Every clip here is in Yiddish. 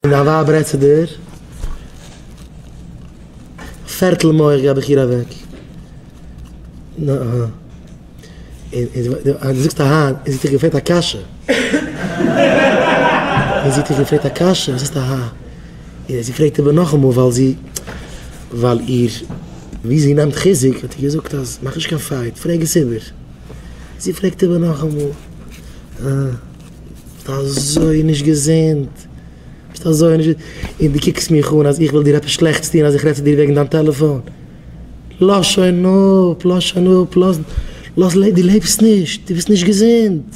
און דיין ווייב רעדט צו דיר? א פערטל מח געב איך איר אוועק. נ א. און דו זאגסט אהן, און זי האט דיך געפרעגט א קשיא. און זי האט דיך געפרעגט א קשיא, און זאגסט אהן. און זי פרעגט איבער נאכאמאל ווייל זי, ווייל איר, ווי זי נעמט חיזוק, האט איר געזאגט אז מאך נישט קיין פייט, פרעג עס איבער. זי פרעגט איבער נאכאמאל. ביסט אזוי נישט געזונט, ביסט אזוי נישט געזונט, און דו קוקסט מיך אן אז איך וויל דיר עפעס שלעכטס טון אז איך רעד צו דיר וועגן דיין טעלעפאן, לאז שוין אפ, לאז שוין אפ, לאז, לאז, דו לעבסט נישט, דו ביסט נישט געזונט,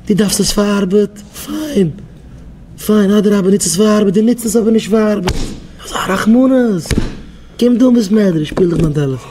דו דארפסט עס פאר ארבעט, פיין, פיין, אדרבה נוץ עס פאר ארבעט, דו נוצט עס אבער נישט פאר ארבעט, אזא רחמנות, קום דא אין בית מדרש שפיל דיך מיין טעלעפאן.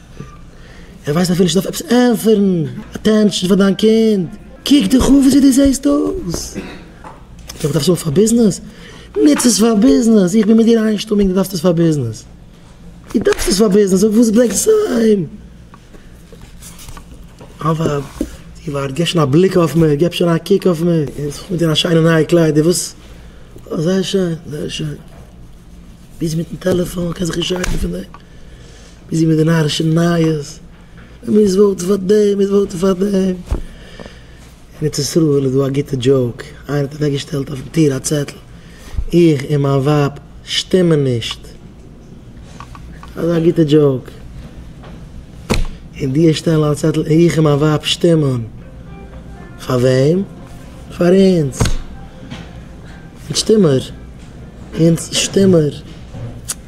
איך ווייס אפילו נישט אויף עפעס ענטפערן, אטענשאן פאר דיין קינד, קוק דיך אן וויאזוי דו זעסט אויס, דו דארפסט עס פאר ביזנעס, נוץ עס פאר ביזנעס, איך בין מיט דיר איינשטומיג דו דארפסט עס פאר ביזנעס, דו דארפסט עס פאר ביזנעס, אויף וואס ברענגט עס אהיים? אבא, דו ווארט, גיב שוין א בליק אויף מיר, גיב שוין א קוק אויף מיר, איך זיך מיט די שיינע נייע קליידער, וואס, זייער שיין, זייער שיין. ביזי מיטן טעלעפאן, קען זיך נישט שיידן פון דעם, ביזי מיט די נארישע נייעס, מען מוז וואוטן פאר דעם, מען מוז וואוטן פאר דעם, אין ארץ ישראל איז דא א גוטע דזשאוק, איינער האט אוועקגעשטעלט אויפן טיר א צעטל, איך און מיין ווייב שטימען נישט, אזא גוטע דזשאוק, און די און שטעלן א צעטל, איך און מיין ווייב שטימען, פאר וועם? פאר אונז. איך שטים מיר. אונז שטים מיר.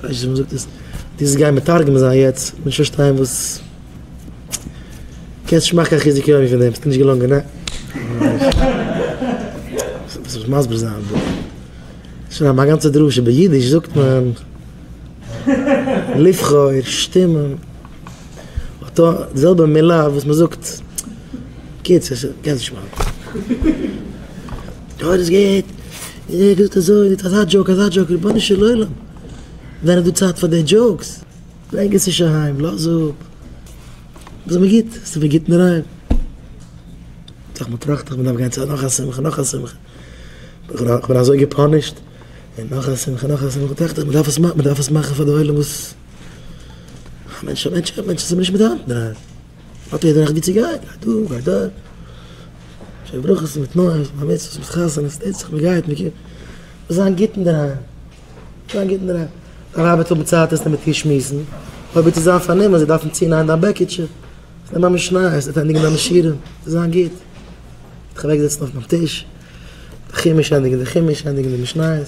כ'ווייס נישט ווי מ'זאגט עס. דו זאלסט גיין מתרגם זיין יעצט. כ'בין נישט פארשטיין וואס. קענסט נישט מאכן קיין חיזוק יומי פון דעם. ס'קען נישט געלונגען. ניין. זאלסט מסביר זיין דא. שוין האבן א גאנצע דרשה. באידיש זאגט מען לבחור, שטימען. אותו, די זעלבע מילה וואס מ'זאגט. קיצור, קענסט נישט מאכן. טאָ איז גוט, און ער געזאָגט אַזױ, איצט אַזאַ דזשאָוק, אַזאַ דזשאָוק, רבונו של עולם, זענען דאָ צײַט פֿאַר די דזשאָוקס? ברענג עס נישט אַהײם, לאָז אָפּ, איז מיר גוט, ס'איז מיר גוט אינדערהײם. טראַכט מען, טראַכט מען, מ'דאַרף גײן צו נאָך אַ שמחה, נאָך אַ שמחה, איך בין אַזױ געפּאַנישט, און נאָך אַ שמחה, נאָך אַ שמחה, טראַכט ער, מ'דאַרף עס מאַכן, מ'דאַרף עס מאַכן פֿאַר דער עולם, װאָס? אַ מענטש, אַ מענטש, אַ מענטש, ס'איז מיר נישט מיט האַנט אינדערהײם. האט יעדער רעכט ווי צו גיין, גיי דא גיי דארט, שער ברכות מיט תנועות, בר מצוות מיט חתונות, טוט זיך מ'גייט מ'קומט, זאל זיין גוט אינדערהיים, זאל זיין גוט אינדערהיים, דיין ווייב וועט האבן צייט עס מיט דיר שמועסן, אויב וועט זי זיין פארנומען, זי דארפן צונייען דיין בעקיטשע, נעם א משניות, זי וועט ענדיגן דיינע שיעורים, זאל זיין גוט, זיך אוועקזעצן אויף מיין טיש, די חומש ענדיגן די חומש, ענדיגן די משניות.